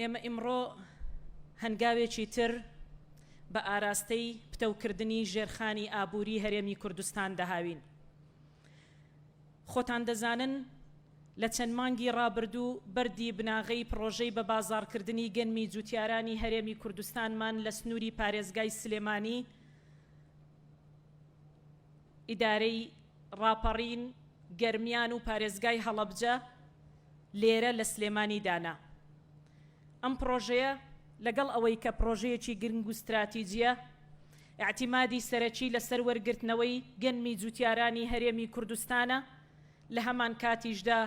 ئێمە ئیمڕۆ هەنگاوێکی تر بە ئاراستەی پتەوکردنی ژێرخانی ئابووری هەرێمی کوردستان دەهاوین. خۆتان دەزانن لە چەند مانگی ڕابردوو بەردی بناغەی پڕۆژەی بەبازاڕکردنی گەنمی جووتیارانی هەرێمی کوردستانمان لە سنووری پارێزگای سلێمانی ئیدارەی ڕاپەڕین، گەرمیان و پارێزگای هەڵەبجە لێرە لە سلێمانی دانا. ئەم پڕۆژەیە لەگەڵ ئەوەی کە پڕۆژەیەکی گرنگ و ستراتیجییە، ئیعتیمادی سەرەکی لەسەر وەرگرتنەوەی گەنمی جووتیارانی هەرێمی کوردستانە، لە هەمانکاتیشدا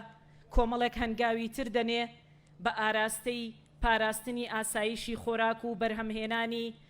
کۆمەڵێک هەنگاوی تر دەنێ بە ئاراستەی پاراستنی ئاسایشی خۆراک و بەرهەمهێنانی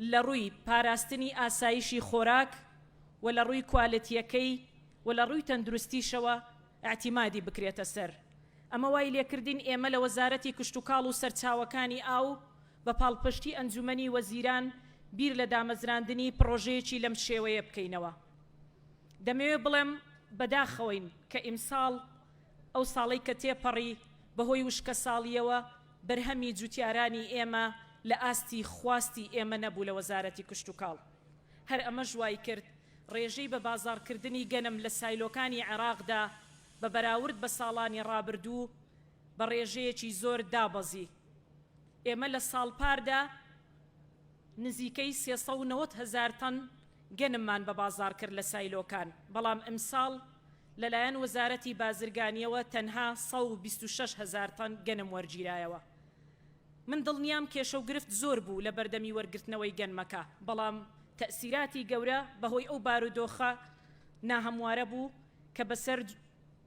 لە ڕووی پاراستنی ئاسایشی خۆراک و لە ڕووی کوالێتییەکەی و لە ڕووی تەندروستیشەوە ئیعتیمادی بکرێتە سەر. ئەمە وای لێکردین ئێمە لە وەزارەتی کشتوکاڵ و سەرچاوەکانی ئاو بە پاڵپشتی ئەنجوومەنی وەزیران بیر لە دامەزراندنی پڕۆژەیەکی لەم شێوەیە بکەینەوە. دەمەوێ بڵێم بەداخەوەین کە ئیمساڵ ئەو ساڵەی کە تێپەڕی بەهۆی وشکەساڵییەوە، بەرهەمی جوتیارانی ئێمە لە ئاستی خواستی ئێمە نەبوو لە وەزارەتی کشتوکاڵ، هەر ئەمەش وایکرد رێژەی بە بازاڕکردنی گەنم لە سایلۆکانی عێراقدا بە بەراورد بە ساڵانی رابردوو بە رێژەیەکی زۆر دابەزی ئێمە لە ساڵ پاردا، نزیکەی سێ سەد و نەوەد هەزار تەن گەنممان بە بازاڕ کرد لە سایلۆکان، بەڵام ئەمساڵ لەلایەن وەزارەتی بازرگانییەوە تەنها سەد و بیست و شەش هەزار تەن گەنم وەرگیرایەوە. من دڵنیام کێشە و گرفت زۆر بوو لە بەردەمی وەرگرتنەوەی گەنمەکە، بەڵام. تەئسیراتی گەورە بەهۆی ئەو بارودۆخە ناهەموارە بوو کە بەسەر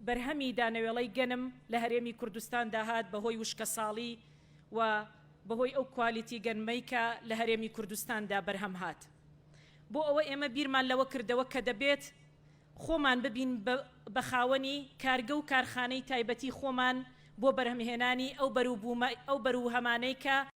بەرهەمی دانەوێڵەی گەنم لە هەرێمی کوردستان داهات بەهۆی وشکەساڵی و بەهۆی ئەو کوالیتی گەنمەی کە لە هەرێمی کوردستاندا بەرهەم هات بۆ ئەوە ئێمە بیرمان لەوە کردەوە کە دەبێت خۆمان ببین بە خاوەنی کارگە و کارخانەی تایبەتی خۆمان بۆ بەرهەمهێنانی ئەو بەروبوومە ئەو بەرووهەمانەی کە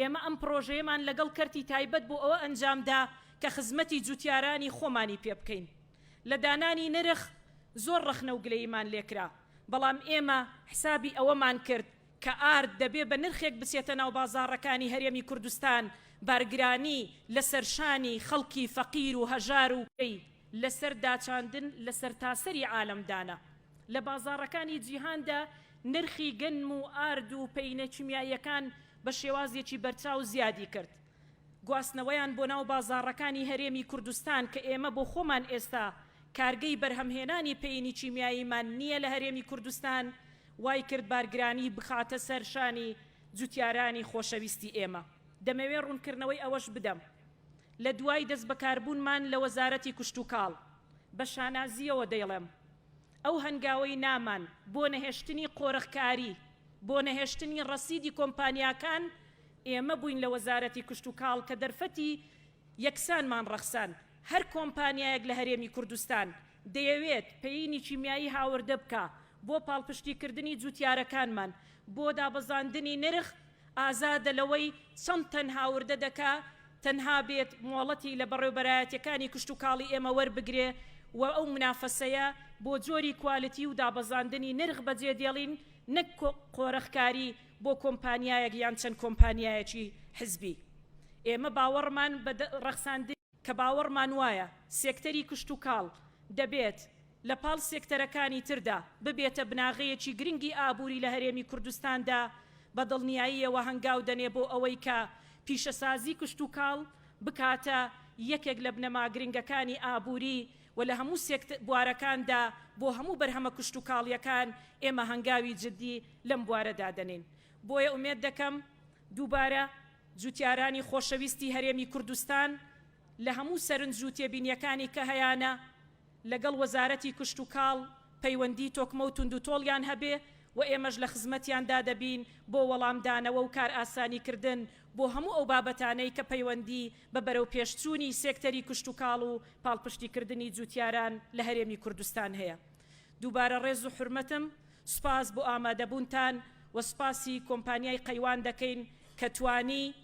ئێمە ئەم پڕۆژەیەمان لەگەڵ کەرتی تایبەت بۆ ئەوە ئەنجامدا کە خزمەتی جووتیارانی خۆمانی پێ بکەین. لە دانانی نرخ زۆر ڕەخنە و گلەییمان لێ کرا، بەڵام ئێمە حسابی ئەوەمان کرد کە ئارد دەبێ بە نرخێک بچێتە ناو بازاڕەکانی هەرێمی کوردستان، بارگرانی لە سەر شانی خەڵکی فەقیر و هەژار و لە سەر داچاندن لە سەرتاسەری عالەم دانا. لە بازاڕەکانی جیهاندا نرخی گەنم و ئارد و پەینە کیمیاییەکان بە شێوازێکی بەرچاو زیادی کرد گواستنەوەیان بۆ ناو بازاڕەکانی هەرێمی کوردستان کە ئێمە بۆ خۆمان ئێستا کارگەی بەرهەمهێنانی پەینی کیمیاییمان نییە لە هەرێمی کوردستان وای کرد بارگرانی بخاتە سەر شانی جوتیارانی خۆشەویستی ئێمە. دەمەوێ ڕوونکردنەوەی ئەوەش بدەم لە دوای دەستبەکاربوونمان لە وەزارەتی کشتوکاڵ بە شانازییەوە دەیڵێم، ئەو هەنگاوەی نامان بۆ نەهێشتنی قۆرخکاری، بۆ نەهێشتنی ڕەسیدی کۆمپانیاکان، ئێمە بووین لە وەزارەتی کشتوکاڵ کە دەرفەتی یەکسانمان ڕەخساند، هەر کۆمپانیایەک لە هەرێمی کوردستان دەیەوێت پەینی کیمیایی هاوردە بکا بۆ پاڵپشتیکردنی جوتیارەکانمان بۆ دابەزاندنی نرخ، ئازادە لەوەی چەند تەن هاوردە دەکا تەنها بێت مۆڵەتی لە بەڕێوبەرایەتیەکانی کشتوکاڵی ئێمە وەربگرێ و ئەو منافەسەیە بۆ جۆری کوالتی و دابەزاندنی نرخ بەجێ دێڵین نەک قۆرخکاری بۆ کۆمپانیایەک یان چەند کۆمپانیایەکی حزبی ئێمە باوەڕمان بە ڕەخساندنی کە باوەڕمان وایە سێکتەری کشتوکاڵ دەبێت لە پاڵ سێکتەرەکانی تردا ببێتە بناغەیەکی گرنگی ئابووری لە هەرێمی کوردستاندا، بە دڵنیاییەوە هەنگاو دەنێ بۆ ئەوەی کە پیشەسازی کشتوکاڵ بکاتە یەکێک لە بنەما گرنگەکانی ئابووری و لە هەموو بوارەکاندا بۆ هەموو بەرهەمە کشتوکاڵییەکان ئێمە هەنگاوی جددی لەم بوارەدا دەنێین. بۆیە ئومێد دەکەم دووبارە. جوتیارانی خۆشەویستی هەرێمی کوردستان لە هەموو سەرنج و تێبینیەکانی کە هەیانە لەگەڵ وەزارەتی کشتوکاڵ پەیوەندی تۆکمە و توندوتۆڵیان هەبێ و ئێمەش لە خزمەتیان دا دەبین بۆ وەڵام دانەوە و کارئاسانی کردن بۆ هەموو ئەو بابەتانەی کە پەیوەندی بە بەرەو پێش چوونی سێکتەری کشتوکاڵ و پاڵپشتی کردنی جوتیاران لە هەرێمی کوردستان هەیە دووبارە ڕێز و حورمەتم سوپاس بۆ ئامادەبوونتان و سوپاسی کۆمپانیای قەیوان دەکەین کە توانی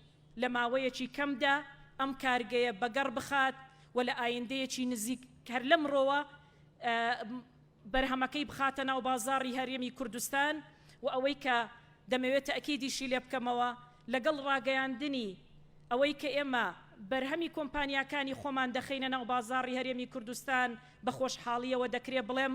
لە ماوەیەکی کەمدا ئەم کارگەیە بەگەڕ بخات و لە ئایندەیەکی نزیک هەر لەمڕۆوە بەرهەمەکەی بخاتە ناو بازاڕی هەرێمی کوردستان و ئەوەی کە دەمەوێت تەئکیدیشی لێ بکەمەوە لەگەڵ ڕاگەیاندنی ئەوەی کە ئێمە بەرهەمی کۆمپانیاکانی خۆمان دەخەینە ناو بازاڕی هەرێمی کوردستان بە خۆشحاڵییەوە دەکرێ بڵێم